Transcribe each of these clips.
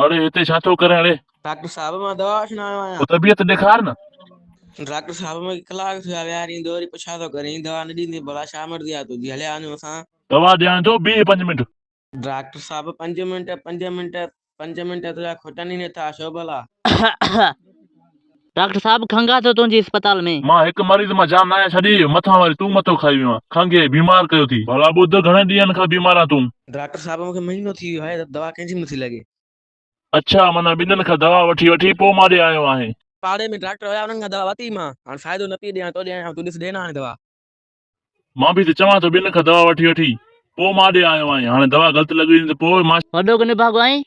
اڙي هتي ڇا ٿو ڪرين اڙي. ڊاڪٽر صاحب مان دوا وٺڻ آيو آهيان. ڪو طبيعت ڏيکار نه. ڊاڪٽر صاحب مون کي ڪلاڪ ٿيو آهي ويهاريندو وري پڇا ٿو ڪرين دوا نه ڏيندين ڀلا ڇا مرضي آهي تنهنجي هليا وڃون اسان. دوا ڏيان جو بيهه پنج منٽ. ڊاڪٽر صاحب پنج منٽ پنج منٽ پنج منٽ تنهنجا کٽن ئي نٿا ڇو ڀلا. ڊاڪٽر صاحب کنگهه اٿو تنهنجي اسپتال ۾. مان هڪ مريض مان جان ناهيان ڇڏي، مٿان وري تون مٿو کائي ويو آهين. کنگهي، بيمار ڪيو ٿي. ڀلا ٻڌ گهڻن ڏينهن کان بيمار آهين تون؟ ڊاڪٽر صاحب مون کي مهينو ٿي ويو آهي ته دوا ڪنهن جي به نٿي لڳي. اڇا معنيٰ ٻنهن کان دوا وٺي وٺي پوء مان ڏي آيو آهين. پاڙي ۾ ڊاڪٽر هيا انهن کان دوا ورتي مان. هاڻ فائدو نه پيئي ڏيان تو ڏي آيا آهيان تون ڏس ڏي نه هاڻي دوا. مان به ته چوان ٿو ٻنهن کان دوا وٺي وٺي پوء مان ڏي آيو آهين هاڻي دوا غلط لڳي وڃي ته پوء مان. وڏو ڪي نڀاڳو آهين.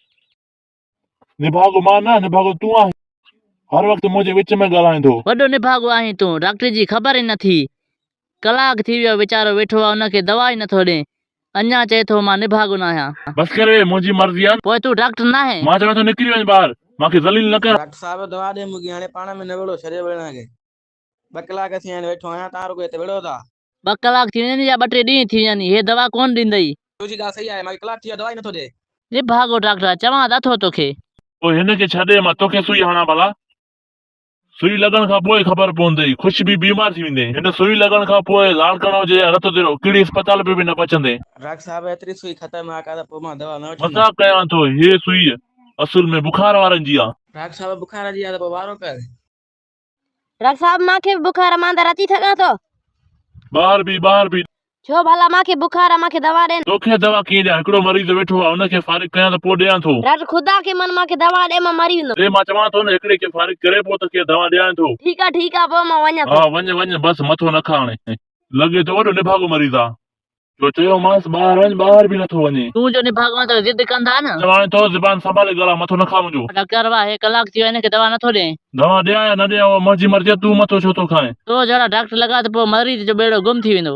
نڀاڳو مان نه، نڀاڳو تون آهين. هر وقت منهنجي وچ ۾ ڳالهائيندو. وڏو نڀاڳو آهين تون. ڊاڪٽر جي خبر ئي نه ٿي. ڪلاڪ ٿي ويو ويچارو ويٺو آهي ان کي دوا ئي نٿو ڏي. اڃا چئي ٿو مان نڀاڳو ناهيان. بس ڪر ويهه منهنجي مرضي آهي. پوء تون ڊاڪٽر ناهين. مان چوان ٿو نڪري وڃ ٻاهر. مان کي ذليل نه ڪر. ڊاڪٽر صاحب دوا ڏي مون کي هاڻي پاڻ ۾ نه وڙهو ڇڏيو وڙهڻ کي. ٻه ڪلاڪ ٿي ويا آهن ويٺو آهيان تان رڳو هت وڙهو ٿا. ٻه ڪلاڪ ٿي وڃن يا ٻه ٽي ڏينهن ٿي وڃن هيء دوا ڪونه ڏيندئي. تنهنجي ڳالهه صحيح آهي، مانکي ڪلاڪ ٿي ويو آهي، دوا ئي نٿو ڏئي. نڀاڳو ڊاڪٽر، چوان ته اٿو توکي. پوء هن کي ڇڏي مان توکي سوئي هڻان ڀلا؟ سوئي لڳڻ کان پوء خبر پوندئي. خوش به بيمار ٿي ويندين. هن سوئي لڳڻ کان پوء لاڙڪاڻو هجي يا رت ديرو، ڪهڙي اسپتال ۾ به نه پهچندين. ڊاڪٽر صاحب، هيتري سوئي خطرناڪ آهي ته پوء مان دوا نه وٺندس. مذاق ڪيان ٿو. هيء سوئي اصل ۾ بخار وارن جي آهي. ڊاڪٽر صاحب، بخار جي آهي ته پوء وارو ڪر. ڊاڪٽر صاحب مان کي به بخار آ مان اندر اچي سگهان ٿو. ٻاهر بيهه ٻاهر بيهه. ڇو ڀلا مان کي بخار آ مان کي دوا ڏين. توکي دوا ڪيئن ڏيان هڪڙو مريض ويٺو آ ان کي فارغ ڪيان ته پوء ڏيان ٿو. ڊاڪٽر خدا کي من مان کي دوا ڏي مان مري ويندم. ڏي مان چوان ٿو نه هڪڙي کي فارغ ڪري پوء تو کي دوا ڏيان ٿو. ٺيڪ آ ٺيڪ آ پوء مان وڃان ٿو. ها وڃ وڃ بس مٿو نه کاء هاڻي. لڳي ٿو وڏو نڀاڳو مريض آ. جو چيومانس ٻاهر وڃ، ٻاهر به نٿو وڃي. تون جو نڀاڳون ته ضد ڪندا نه. چوانء ٿو زبان سنڀالي ڳالهاء، مٿو نه کاء منهنجو. ڊاڪٽر واهه، هي ڪلاڪ ٿي ويو هن کي دوا نٿو ڏئين. دوا ڏيان يا نه ڏيان اها منهنجي مرضي آهي، تون مٿو ڇو ٿو کائين. تو جهڙا ڊاڪٽر لڳا ته پوء مريض جو ٻيڙو گم ٿي ويندو.